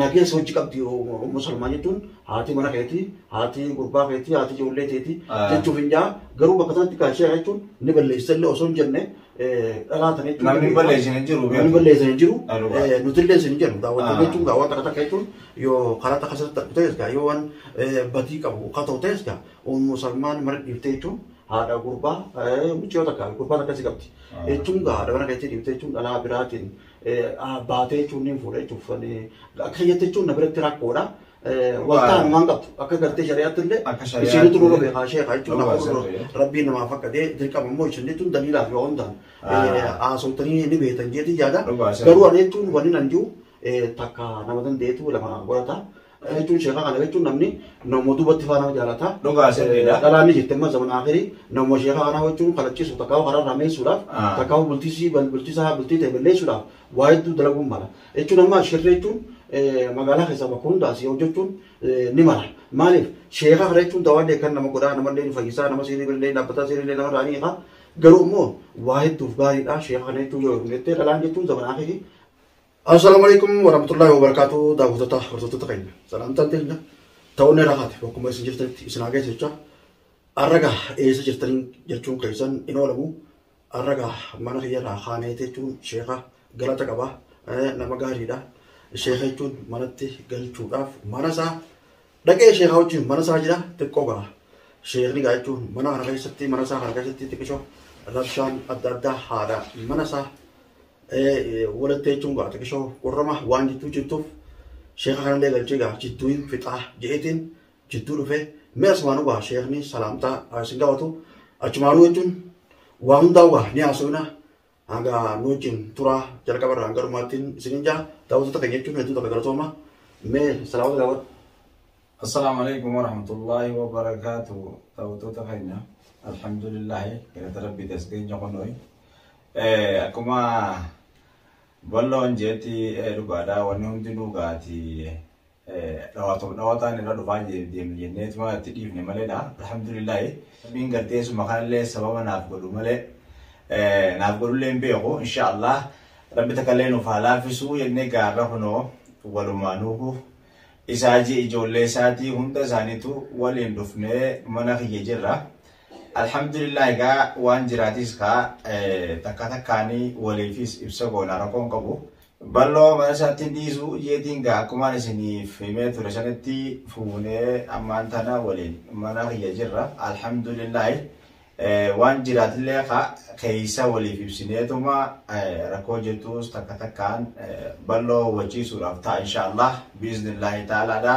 Nageessa hojii qabdi ummu salmaa jechuun haati mana keeti haati gurbaa keeti haati ijoollee teeti jechuuf hin jaa garuu bakka sanatti kan ishee jechuun ni balleessa illee osoo hin jenne dhalaa tana jechuun Namni balleessan hin jiru. namni balleessa hin jiru Dhugaa. nuti illee isin hin jedhu daawwattoota Haa. jechuun daawwata akka takka jechuun yoo karaa takka sirriitti argu ta'es gaa yoo waan badii qabu ka ta'u ta'es gaa ummu salmaan mana dhiiftee jechuun haadha gurbaa mucayyoo takka gurbaa takka si qabdi jechuun gaa haadha mana keetii dhiiftee jechuun dhalaa biraatiin baatee jechuun ni fuudha jechuuf akka kiyyatte jechuun na biratti rakkoodha. Waltaan waan qabdu akka gartee shari'aatti illee isinitu nurra beekaa sheekaa jechuun rabbiin namaa fakkatee dirqama immoo isinitu daliilaa fi hundaan haasawtanii ni beektan jeetii yaada garuu ani jechuun wanni nan jiru takka nama dandeetu lama godhata. Kana jechuun sheeka kana jechuun namni nama duubatti faanaa jaalata. Dhugaa sirriidha. Dhalaan ni jirti amma zaman akhirii nama sheeka kanaa jechuun kadhachiisu takkaa'u karaa irraa meessuudhaaf Ah. takkaa'u bultiisii bal- bultisaa bultii ta'e balleessuudhaaf waa hedduu dalaguun mala. Jechuun amma shirri jechuun eh, magaalaa keessaa bakka hundaa si hojjechuun eh, ni mala. Maaliif sheeka kana jechuun dawaa illee kan nama godhaa nama illee ni fayyisaa nama sirrii illee dhaabbataa sirrii illee nama irraa ni hiika. Garuu immoo waa hedduuf gaariidha sheeka kana jechuun yoo hin jettee dhalaan jechuun zaman akhirii Assalamu alaikum warahmatullahi wabarakatuh daawwattoota hordoftoota keenya salaamtaan teenya ta'uun irra hafe bakkuma isin jirtanitti isin haa geessu jecha arraga eessa jirtaniin jechuun keessan hin oolamu arraga mana kiyyarraa kaanee jechuun sheeka galata qaba nama gaariidha sheeka jechuun manatti galchuudhaaf mana isaa Dhaqee sheekaa wajjin mana isaa jira xiqqoo ga'a. Sheekni gaa jechuun mana kana keessatti mana isaa kana keessatti xiqqisho rabshaan adda addaa haadha mana isaa walitti jechuun gaa xiqqisho qorrama waan jidduu jirtuuf sheeka kanallee galchee gaa jidduu hin fixaa jedheetiin jidduu dhufee mee asumaanuu gaa sheekni salaamtaa isin gaafatu achumaanuu jechuun waa hundaa gaa ni haasofna Hanga nu wajjin turaa jalqaba irraa hanga dhumaattiin isiniin jaa daawwattoota keenya jechuun hedduu takka galatooma. Mee salaamota gaafadhu. Assalaamu alaikum warahmatullaahi wabarakaatu daawwattoota keenya alhamdulillaahi galata rabbiiti as keenya kunuun akkuma balloon jeetti dhugaadha wanni hundi nu gaati Dhawatuma dhawataan irra dhufaa deemnu jennee tuma itti dhiifne maleedha. Alhamdulillaahi. Rabbiin gartee suma kanallee sababa naaf godhu malee naaf godhullee hin beeku. Insha Allah rabbi takallee nuuf haa laafisuu jennee gaarra kunoo walumaanuuhu isaa ji ijoollee isaatii hunda isaaniitu waliin dhufnee mana kiyya jirra. Alhamdulillah egaa waan jiraatis kaa takka takkaanii waliifis ibsa goona rakkoon qabu. Balloo mana isaatti dhiisu jeetiin gaa akkumaan isiniif himee ture sanitti fuunee ammaan tana waliin mana kiyya jirra alhamdulillaahi waan jiraatillee ka keeysa waliif ibsineetuma rakkoo jirtuus takka takkaan balloo hubachiisuudhaaf ta'a inshaallah biiznillaahi taalaadha.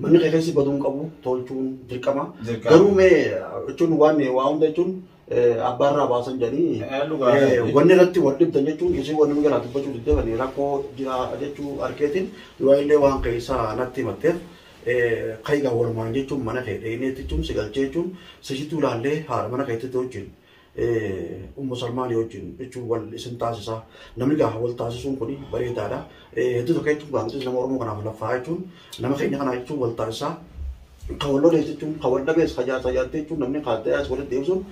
Manni kee keessi baduu hin qabu tolchuun dirqama. Dirqama. Garuu mee jechuun waan waa hunda jechuun eh, abbaarraa baasan jedhanii Eh, dhugaa eh, dha. wanni irratti wal dhibdan jechuun isin wanni nu jalaa dubbachuu didde kan rakkoo jira jechuu arkeetiin yoo illee waan keessaa natti himatteef eh, kaigaa walumaan jechuun mana kee dheeneetti jechuun si galchee jechuun sisituu laallee haadha mana keetti wajjin Ummu Salmaanii wajjin jechuun wal isin taasisa. Namni gaafa wal taasisuun kun bareedaadha. Hedduu tokko jechuun gaafa nutis nama Oromoo kanaaf laffaa jechuun nama keenya kanaa jechuun wal taasisa. Kan wal lolees jechuun kan wal dhabees kan jaarsa jaartii jechuun namni kaaddayaas walitti deebisuun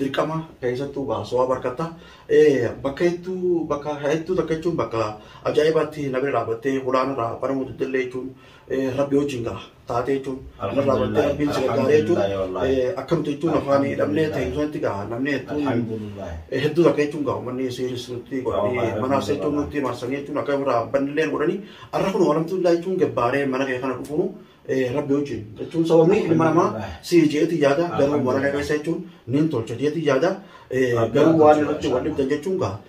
dirqama keessattuu gaa so'aa barkata. Bakka hedduu bakka hedduu tokko jechuun bakka ajaa'ibaatti na bira dhaabbattee hulaanarraa banamuu diddillee jechuun rabbi wajjin gaa taatee jechuun irraa bartee rabbiin si gargaaree jechuun akkamtu jechuun afaan hidhamnee ta'e sanatti gaa namni hedduun hedduu takka jechuun gaa uummanni siiris nutti godhanii manaas jechuun nutti marsanii jechuun akka irraa bannillee godhanii arra kun alhamdulillah jechuun gabbaaree mana kee kana dhufuunu rabbi wajjin jechuun sababni ilma namaa si jeeti yaada garuu mana kee keessa jechuun niin tolcha jeeti yaada garuu waan irratti wal dhibdan jechuun gaa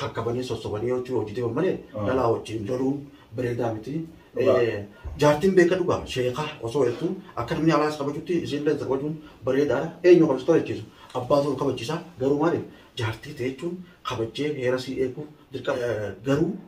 kakkabanii sossobanii yoo hojii deeman malee dhalaa wajjin loluun bareedaa miti. Jaartiin beeka dhugaa sheekaa osoo jettu akka namni alaas kabajutti isiillee kabajuun bareedaadha. Eenyu kabajtoo jechiisu abbaa ta'uu kabachiisa garuu maaliif jaartii ta'e jechuun kabajjee heera sii eeguuf dirqama garuu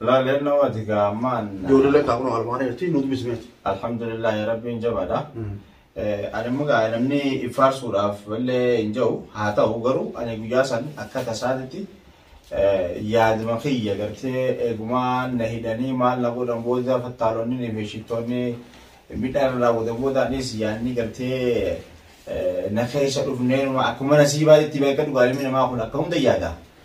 Laa leenna wati gaa ammaan. Ijoollee lakkaa kunoo armaan irratti nuti bismeeti. Alhamdulillah rabbiin jabaadha. Ani immoo gaa namni ifaarsuudhaaf illee hin jiru haa ta'u garuu ani guyyaa san akka tasaatitti yaaduma kiyya gartee eegumaa na hidhanii maal na godhan booda fattaalonni fi shittoonni midhaan irraa booda booda anis yaadni gartee na keessa dhufnee akkuma nasiibaa itti beekan dhugaa ilmi namaa kun akka hunda yaada.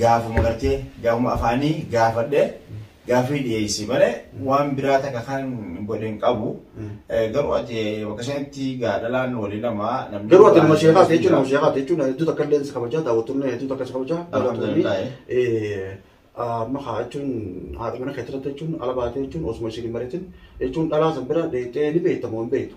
Gaafuma gartee gaafuma afaanii gaafadhe gaafii dhiyeessi malee waan biraa takka kan godhe hin qabu. Garuu ati bakka sanitti gaadhalaan walii lama namni. Garuu ati nama sheekaa ta'e jechuun nama sheekaa ta'e jechuun hedduu takka illee si kabajaa daawwattoonni hedduu takka si kabajaa daawwattoonni amma haa jechuun haadha mana keetti irratti jechuun ala baatee jechuun osuma isin hin maritin jechuun dhalaa san bira deettee ni beektamoo hin beektu.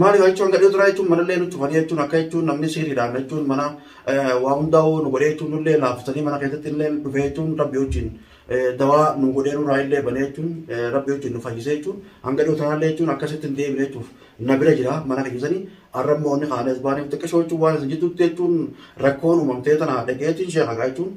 Maali waa jechuun gadhee turaa jechuun manallee nu cufanii jechuun akka jechuun namni siiriidhaan jechuun mana waa hundaa nu godhee jechuun nullee laaffisanii mana keessatti illee dhufee jechuun rabbi wajjin dawaa nu godhee nurraa illee banee jechuun rabbi wajjin nu fayyisee jechuun hanga dhiyoo tanaallee jechuun akkasitti hin deebine jechuuf na bira jira mana keessanii arrammoo inni kaanes baaniif xiqqashoo jechuun waan isin jidduutti jechuun rakkoon uumamtee tana dhageetiin sheekagaa jechuun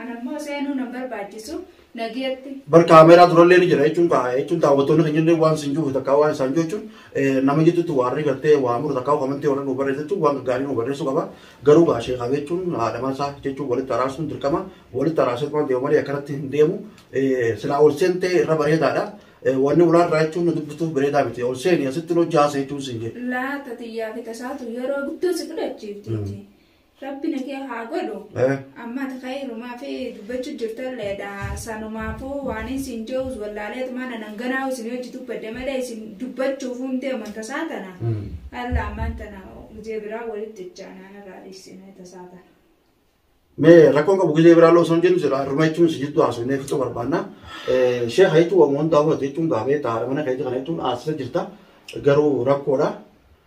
Anammoo seenuu nan barbaachisu nageetti. Bar kaameeraa durallee ni jira jechuun kaa jechuun daawwattoonni keenya illee waan isin juufe takkaa waan isaan jechuun nama jidduutti waarri gartee waa muru takkaa komantii warra nu barreessa jechuun waan gaarii nu barreessuu qaba. Garuu gaa sheekaa jechuun haadha mansaa jechuun walitti araarsuun dirqama walitti araarsuun waan deemu malee akkanatti hin deemu. Silaa ol seentee irra bareedaadha. Wanni ulaa irraa jechuun nu dubbistuuf bareedaa miti. Ol seeni asitti nu jaasa jechuun siin jedhe. Laata xiyyaa fi tasaatu yeroo guddoo si fudhachiifti. Rabbi nakee haa godhu. Eh. Amma ati kayrumaa fi dubbachuu jirtalleedha. Sanumaafuu waan isin je'us wallaaleetumaan anan ganaa isin hojii dubbadde malee isin dubbachuuf hundee amanta isaa tana. Mm. Alla ammaan tana gizee biraa walitti ijaanaan irraa dhiisine tasaa tana. Mee rakkoon qabu gizee biraa loosoo hin jennu jira. Ruma jechuun si jidduu haasofnee fixuu barbaanna. Eh, Sheekha jechuun waan hundaa fudhate jechuun gaafee taa'aadha mana keessa kana jechuun haasisa jirta. Garuu rakkoodha.